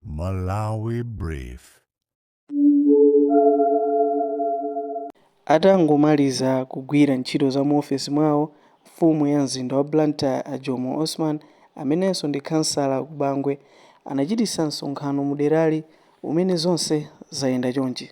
Malawi Brief. Atangomaliza kugwira ntchito za mu ofesi mwawo, mfumu ya mzinda wa Blantyre a Jomo Osman amenenso ndi khansala ku Bangwe anachititsa msonkhano mu derali umene zonse zayenda chonchi.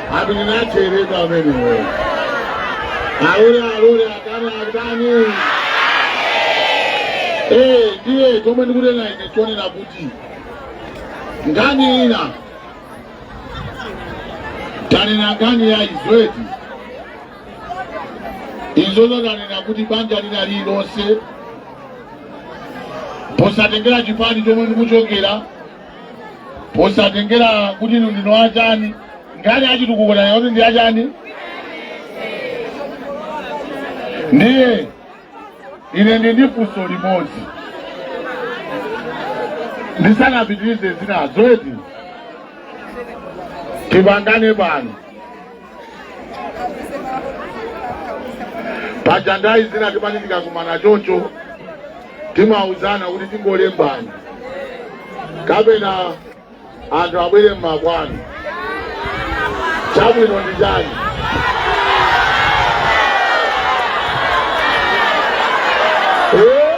ati ndinacheredwa amenewo alule alule atani atani Eh, ndiye chomwe ndikunena ine chonena kuti nkhani ina tanena nkhani ya izweti izozo tanena kuti banja lina lilonse posatengera chipani chomwe ndikuchokera posatengera kuti inu ndinu achani nkhani yachitukuko tayani zoti ndi achani ndiye ine ndi ndi funso limodzi ndisanapitirize zinazo eti tipangane pano paja nthawi zina timati tikakumana choncho timauzana kuti tingolembani kapena anthu abwere mmakwanu chabwino ndi chani Eh?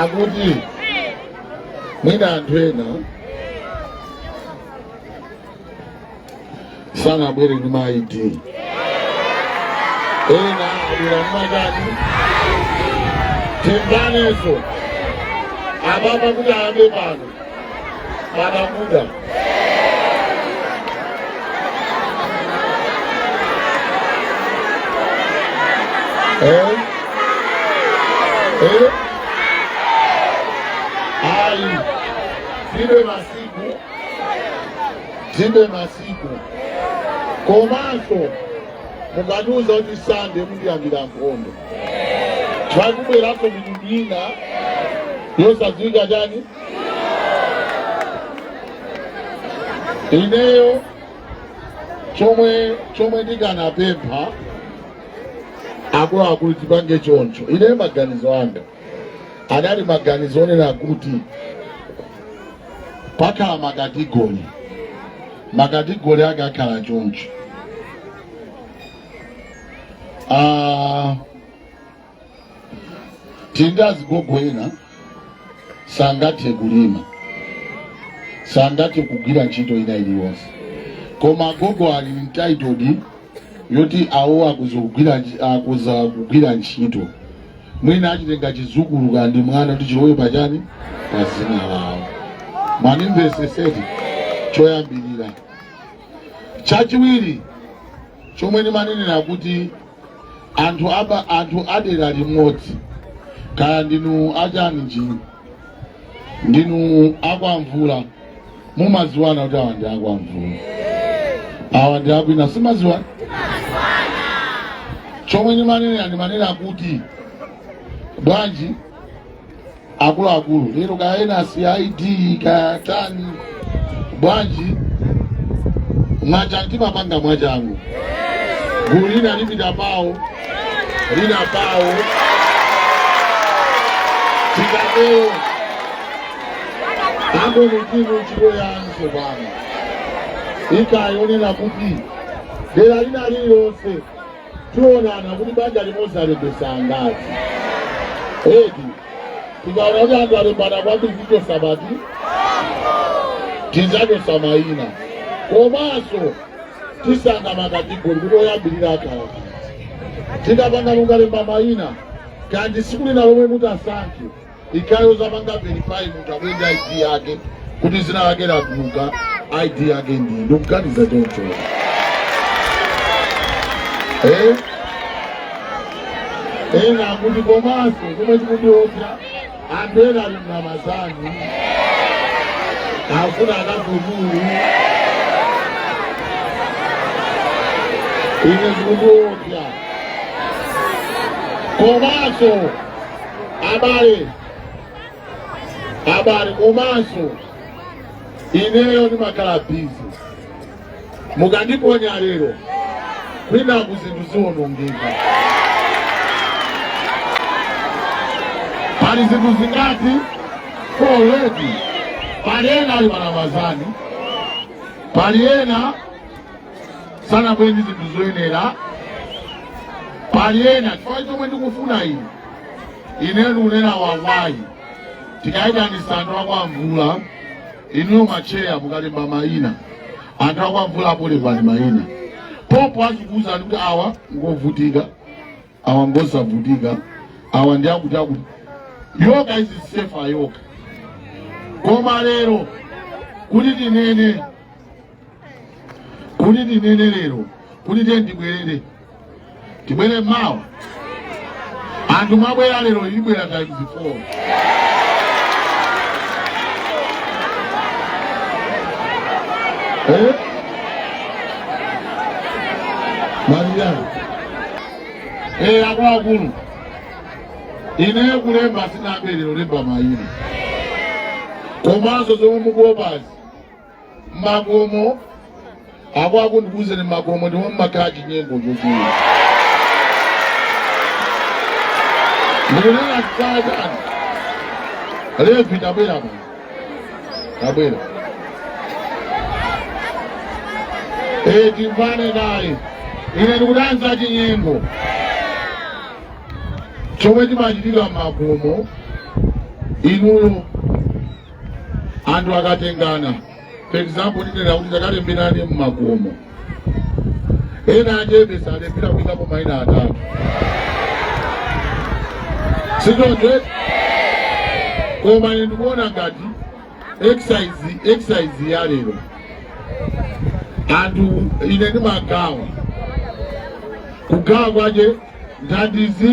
akuti mwina anthu ena sanabwere ndi ma ID ena abwera mmatani timbaneso ababa kuti ayambe pano Manakuda. Eh? Eh? Ai, tilibe masiku, tilibe masiku. Komanso mukatiuza kuti sande mundiyambira nkhondo. Mwakubweranso mitundu ina yosadziwika chani ineyo chomwe chomwe ndikanapempha akuluakulu tipange choncho ineyo maganizo anga anali maganizo onena kuti pakhala makatigoli makatigoli ake akhala choncho Ah, tili ndi azigogo ena sangathe kulima sangathe kugwira ntchito ina iliyonse koma agogo ali entitled yoti awo akuza kugwira nch- akuza kugwira ntchito mwina achitenga chizukulu kaya ndi mwana kuti chilowe pachani pa zina lawo mwanimvesesa eti choyambirira chachiwiri chomwe ndimanenera kuti anthu aba anthu adera limodzi kaya ndinu achani njini ndinu akwamvula mumaziwana kuti awa ndi akwamvula awa ndi akwina simaziwana chomwe ndimanena ndimanena kuti bwanji akuluakulu lero kaya ena si id kaya tani bwanji mwachan- timapanga mwachangu gulu lina lipita pawo lina pawo tikatero akomitimu chikoyanso pano ikayonena kuti dera lina lililonse tionana kuti banja limodzi alembesa angati eti tikaona kuti anthu alembana kwambiri tichosa pati tizachosa mayina komanso tisankha makatigori kuti oyambirira akhala tikapanga mukalemba mayina kaya ndi siku lina lomwe mutasankhe ijayo zapanga verify munthu abwere ndi id yake kuti zina lake latuluka id yake ndi ndikuganiza choncho eh? ena akuti komanso chomwe chikundiopsa anthu ena ali m'ramazani afuna akafutulu ine zikundiopsa komanso abale abale komanso ineyo ndimakhala bizi mukandiphonya lero kwinaku zinthu ziwonongeka pali zinthu zingati already pali ena ali m'ramazani pali ena sanabwere ndi zinthu zoyenera pali ena chifukwa chomwe ndikufuna ine ineyo ndikunena wawayi tikayitanisa anthu akwa mvula inuyo matcheya mukalemba mayina anthu akwa mvula apo lembani mayina pompo azikuwuzani kuti awa ngovutika awa ngosavutika awa ndi akuti akuti yoga is safer yoga koma lero kuti tinene kuti tinene lero kuti tiye ndibwerere tibwere mawa anthu mwabwera lero ilibwera times 4 eh? Maria. ee akuluakulu ineyo kulemba sinambe lero lemba mayina komanso zomwe mukuopazi makomo akuluakulu ndikuuzeni makomo ndiwo mumakhala chinyengo chochuluka ndikunena chifukwa chani levi ndabwera pano abwino Eh, timvane kaye ine ndikudana chinyengo chomwe chimachitika m'makomo inuyo anthu akatengana for example ndinena kuti tikalemberane m'makomo ena achebe salepira kuikapo maina atatu si choncho koma ine ndikuona ngati exercise ya lero anthu ine ndimagawa kugawa kwache thandizo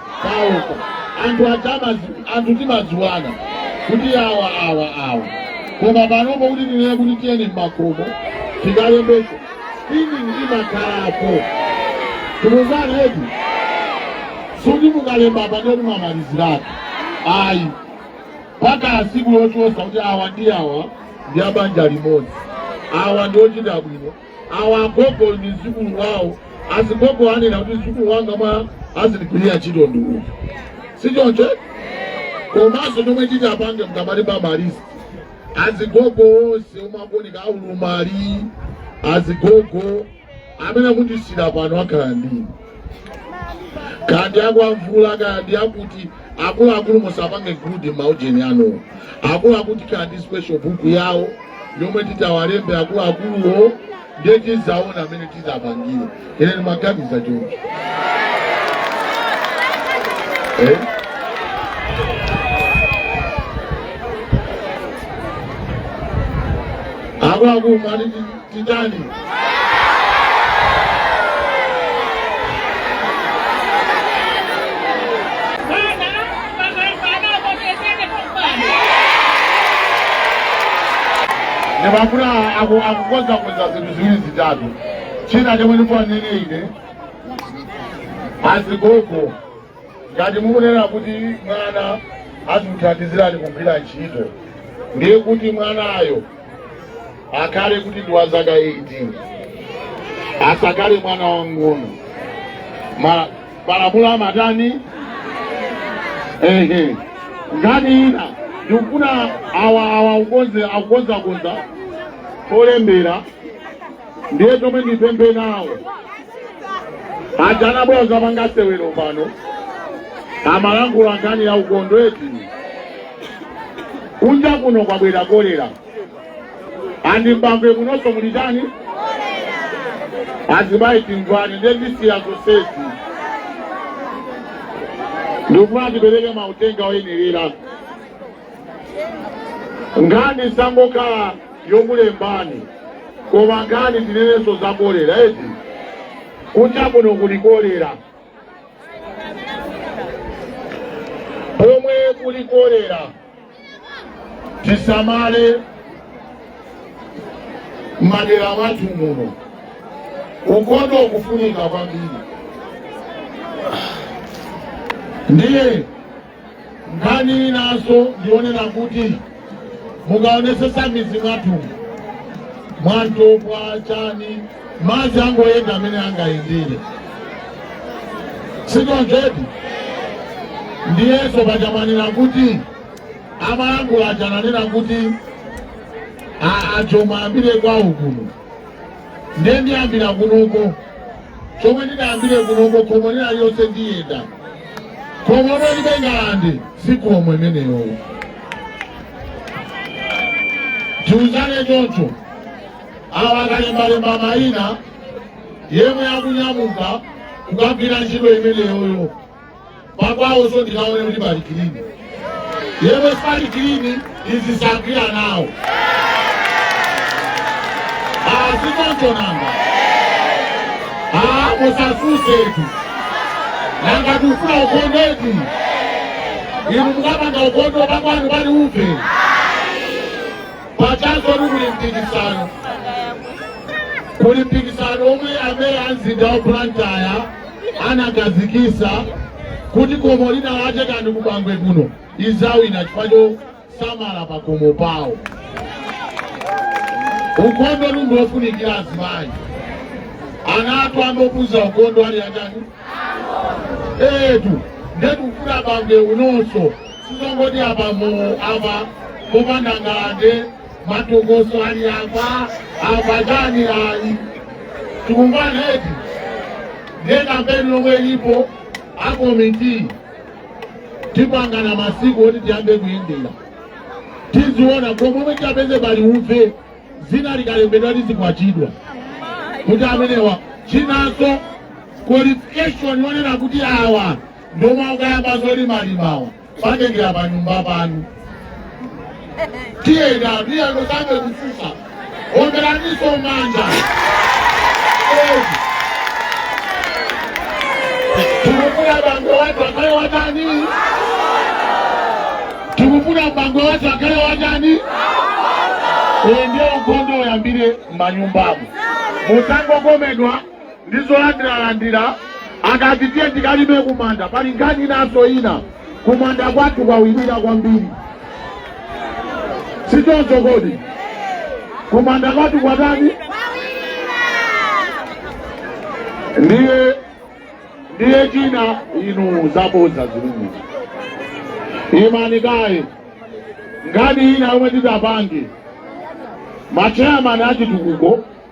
paokha anthu adzama anthu timadziwana kuti awa awa awa koma panopo kuti tinene kuti tiyeni mmakomo tikalembese screening imakhalapo tikuuzani eti sikuti mukalemba pano timamaliziratu ayi mpaka siku lochotsa kuti awa ndi awa ndi abanja limodzi awa ndi ochita bwino awa agogo ndi mzukulu wawo azigogo anena kuti mzukulu wanga mwa azindigwirira ntchito ndi uyu si choncho komanso chomwe titapange mkati pa malisi azigogo onse omwe akuoneka olumala azigogo amene akundisira pano akhala ndini kaya ndi akwamvula kaya ndi akuti akuluakulu musapange gudi maujeni anuwo akuluakulu kaya ndi special book yawo yomwe titawalembe akuluakuluwo ndiye tizaona mmene tizapangire ine ndimaganiza choncho eh? akuluakulu mali Titani. Ndipo akuna aku- akukonzakonza zinthu ziwiri zitatu china chomwe ndikuwanene ine azigogo ngati mukunena kuti mwana azimuthandizirani kugwira ntchito ndiye kuti mwanayo akhale kuti ndi wa zaka 18 asakhale mwana wang'ono Ma- malamulo amatani ehe nkhani ina ndikufuna awa awa akukonze akukonzakonza polembera ndiye chomwe ndipemphe nawo aja anabwera dzapanga sewero pano amalankhula nkhani ya ukhondo eti kunja kuno kwabwera kolera and Bangwe kunonso muli chani azimayi timvane ndiye ndisiya zonsezi ndikufuna tipereke mauthenga oyenerera nkhani isangokhala yokulembani koma nkhani tinenenso za kolera eti kunja kuno kuli kolera pomwe kuli kolera tisamale madera mwathu muno ukhondo ukufunika kwambiri ndiye nkhani inanso ndi yonena kuti mukaonetsetsa m'midzi mwathu mwa Ntopwa chani madzi angoyenda mmene angayendere si choncho eti ndiyenso paja amanena kuti amayankhula aja ananena kuti a- achoma ayambire kwawo kuno ndiye ndiyambira kunoko chomwe ndidayambire kunoko khomo lina lililonse ndiyenda khomo lomwe lilibe ngalande si khomo imeneyo tiuzane choncho awa akalembalemba mayina yemwe akunyamuka kukagwira ntchito imeneyoyo pakwawozo ndikaone kuti pali kilini yemwe sipali kilini izi zagwira nawo azikonjonanga musasusetu nanga kufuna ukondeti inu mukapanga ukondo pakwanu pali uve pachanso ni kuli mpikisano kuli mpikisano omwe amene amzinda wa blantyre anakhazikitsa kuti khomo lina lake kandi ku Bangwe kuno lidzawina chifukwa chosamala pakomo pawo ukhondo ndi wofunikira azimayi ana athu ambopuza ukhondo ali achani eti nde ndikufuna Bangwe kunonso sizongoti apa mu apa popanda ngalande matokoso ali apa apatani ali tikumvana eti ndiye kampeni lomwe ilipo akomiti tipangane masiku oti tiyambe kuyendera tiziona komwe tipeze pali uve zina likalembedwa lizikwachidwa kuti amenewa chinanso qualification wonena kuti awa ndi omwe akayamba zolimalimawa patengera pa nyumba panu tiyenda miyano sange kufusa omberaniso manja tikufuna bango watu akale watani tikufuna bango watu akale watani uyo ndio ukhondo uyambire m'manyumbamo musangokomedwa ndi zolandiralandira akati tiye tikalime kumanda pali nkhani inanso ina kumanda kwathu kwawirira kwambiri sichoncho kodi kumanda kwathu kwatani ndiye ndiye china inu zabodza zilungu imani kaye nkhani ina yomwe tidapange macheyamani achitukuko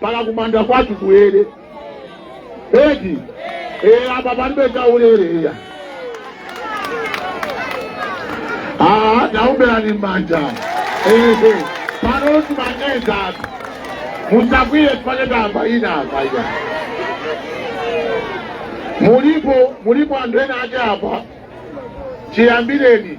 mpaka kumanda kwathu kuyere eti ee apa palibe chaulere iya Ah, taumberani manja ehe pano timanyenza apa musakwiye tifane tamba ina apa iya mulipo mulipo anthu ena ake apa chiyambireni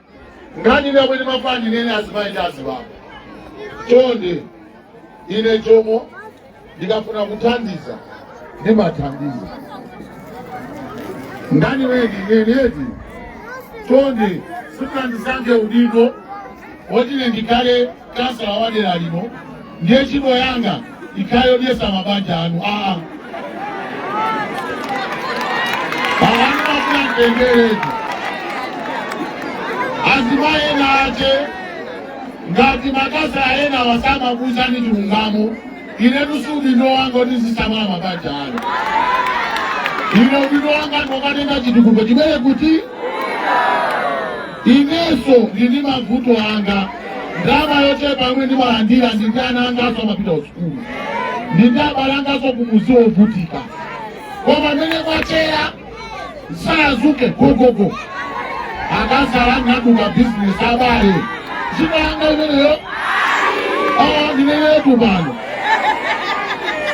nkhani ina yomwe ndimafuna ndinene azimayi ndi azibambo chonde ine chomwe ndikafuna kuthandiza ndimathandiza nkhani yoneneti chonde simunandisankhe udindo woti ine ndikhale kansala wa dera lino ndiye ntchito yanga ikhale yodyesa mabanja anu aa awanimafuna mtengeretu azimayi ena ache ngati makasa ena osamawauzani chilungamo Inetu si udindo wanga kuti ndizisamala mabanja anu. Ine udindo wanga ngokatenga chitukuko chimene kuti inenso ndili ndi mavuto anga ndalama yochepa yomwe ndimalandira ndi ndi ana anganso amapita kusukulu ndi ndi abale anganso kumuzi wovutika koma amene kwachera sadzuke gogogo akansala naduka bizinesi abale sintchito yanga imeneyo awa ndinenetu pano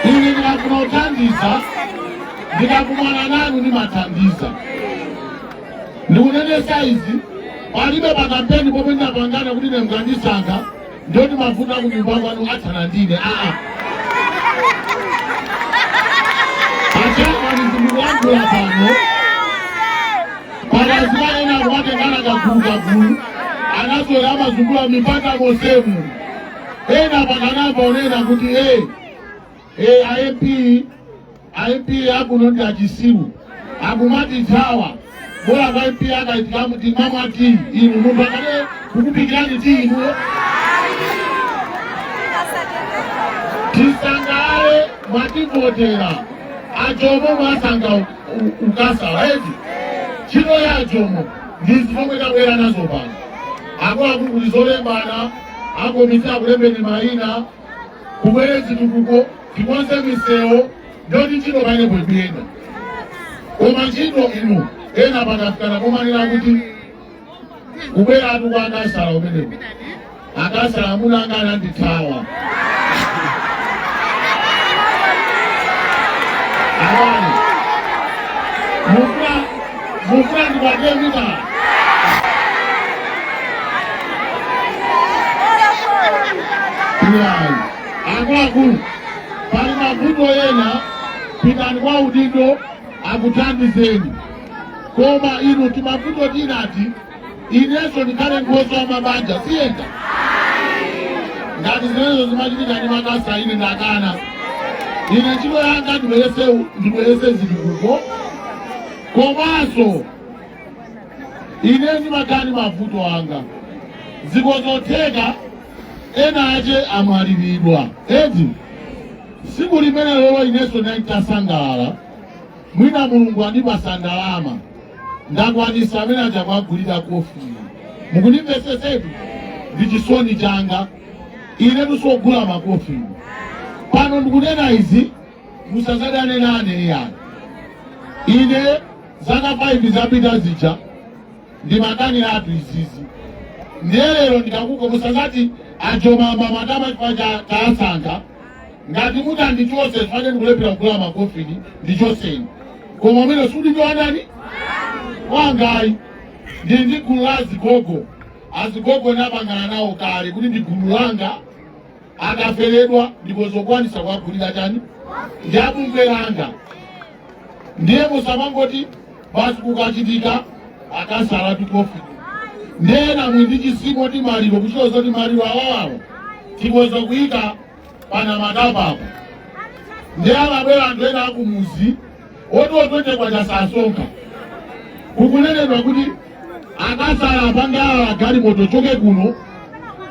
ine ndikafuna kuthandiza ndikakumana nanu ndimathandiza ndikunenetsa izi palibe pakampeni pomwe ndinapangana kuti mukandisankha ndoti mavuto akunyumba kwanu athana ndine aa achemwali zimene ndikuyankhula pano pakazimayi ena akumatengana kagulu kagulu anazolowera amazungula mipata mosemu ena pakanapa onena kuti e e amp a MP akuno ndi achitsiru akumatithawa bola kwa MP akaitikamu timamwa tiyi inu munthu akane kukuphikirani tiyi inuyo tisangalale mwativotera ajomo mwasankha u- u- ukhansala eti ntchito ya ajomo ndizo zomwe tabwera nazo pano akuluakulu kuli zolembana akomiti akulembeni mayina kubwere chitukuko tikonze misewu ndoti ntchito painepo ikuyenda koma ntchito ino ena pakafikana kumanena kuti kubwera athu kwa akhansala umenepo akhansala amuna anga anandithawa mufuna ndikwatire mitala iyayi akuluakulu pali mavuto ena pitani kwa adindo akuthandizeni koma inu timavuto tinati inenso ndikhale nkhoswe wa mabanja ziyenda ngati zimenezo zimachitika ndi makhansala ine ndakana ine ntchito yanga ndibweretse zitukuko komanso ine ndimakhala ndi mavuto anga zikhoza kutheka ena ake amwaliridwa eti tsiku limenelolo inenso nditasangalala mwina mulungu andipatsa ndalama ndakwanitsa amene aja kuwagulira kofini mukundimvetsetsatu ndi chisoni changa ine chosogula makofini pano ndikunena izi musazadane nane iyayi ine zaka 5 zapita zija ndimakaniratu izizi ndiye lero ndikakako musazati ajomo ayamba matama chifukwa cha- cha asankha ngati kuti andichotse chifukwa ndikulephera kugula makofini ndichotseni koma umenewo siudindo wa ndani wangayi ndili ndi gulu la azigogo azigogo ndapangana nawo kale kuti ndi gulu langa akaferedwa nditha kukwanitsa kuwagulira chani ndi a bungwe langa ndiye musamangoti basi kukachitika akhansala tikofini ndiye nanunso ndi chitsimo timaliro kuchita zoti maliro awawawo tikhoza kuyika pano matabwa apo ndiye amabwera anthu ena akumuzi oti otwete kwa chisasa nkha kukunenedwa kuti akhansala apange galimoto ichoke kuno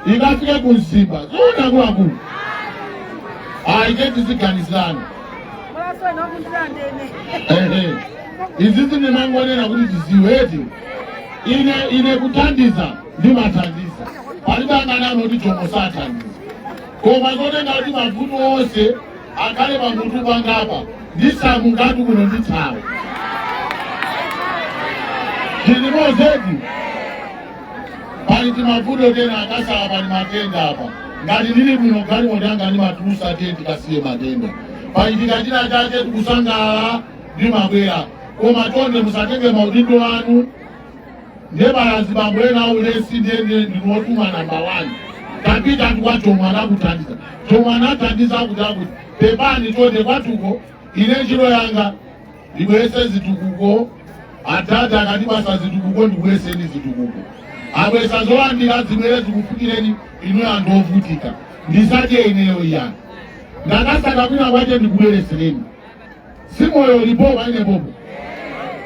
ikafike ku Mzimba zoona akuluakulu ayi tiziganizirana izizi ndimangonena kuti tiziweti ine ine kuthandiza ndimathandiza palibe anganene kuti Jomo sathandiza koma zotenga kuti mavuto onse akhale pamutu pangapa ndisamukatu kuno ndithawe zilimo zedi pali timavuto tenti akasala pali matenda apa ngati ndili bwino galimo lyanga ndimatulusa tenti kasiye matenda pachitika china chake tikusangalala ndimabwera koma chonde musatenge maudindo anu ndiye pali azibambo ena aulesi ndiye ndiye ndinotuma namba wani tapita kwa Jomo anakuthandiza Jomo anathandiza akuti akuti pepani chonde kwatuko ine ntchito yanga ndibwese zitukuko atate akatipatsa zitukuko ndibweseni zitukuko abwesa zolandira zibwere zikufikireni inu anthu ovutika ndisadye ineyo iyani ndakasaka kwina kwache ndikubweresereni si momwe ziliri kodi pompano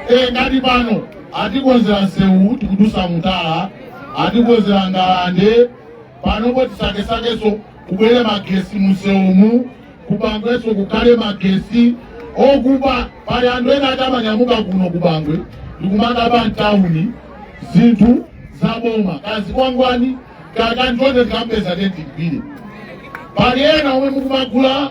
e, ngati pano atikonzera nsewu tikudusa mutala atikonzera ngalande panopo tisakesakenso kubwere magesi musewumu kuBangwenso kukhale magesi okuba pali anthu ena ati amanyamuka kuno kuBangwe ndikumakaba mtawuni zinthu zaboma kazikwangwani kakanthu konse tikampeza ndiye timugwire pali ena omwe mukumagula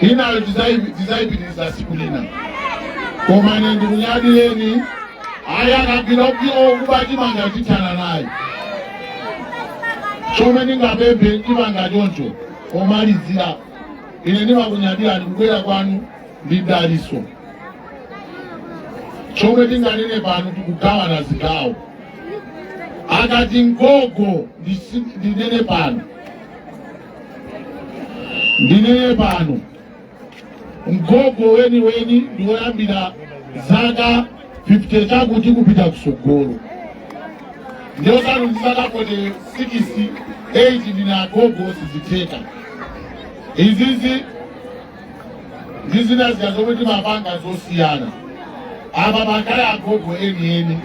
inayo tidzayipitiriza siku lina koma ine ndikunyadireni ayi akagwira okuba chimanga tithana naye chomwe ndingapemphe chimanga choncho pomalizira ine ndimakunyadirani kubwera kwanu ndi dalitso chomwe tinganene pano tikugawana zigawo akati mgogo ndinene pano ndinene pano mgogo weniweni ndi woyambira zaka 50 chakuti kupita kusogolo ndiye osati ndi zaka 48 ndine agogo sizitheka izizi ndi zina zija zomwe timapanga zosiyana apa pakhale agogo enieni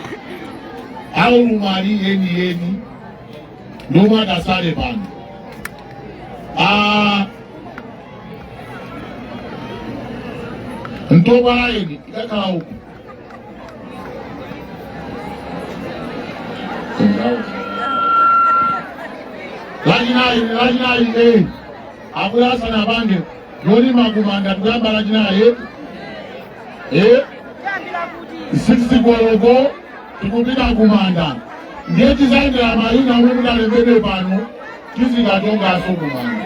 aulumali enieni momwe atatsale pano Ah, ntopa laini ikakhala uku lachinayi lachinayi eh abwera asanapange yolima kumanda tikuyamba lachinayi eh eh 60 koloko tikupita kumanda ndiye tidzayendera mayina omwe mudalembedwe pano tizikatonganso kumanda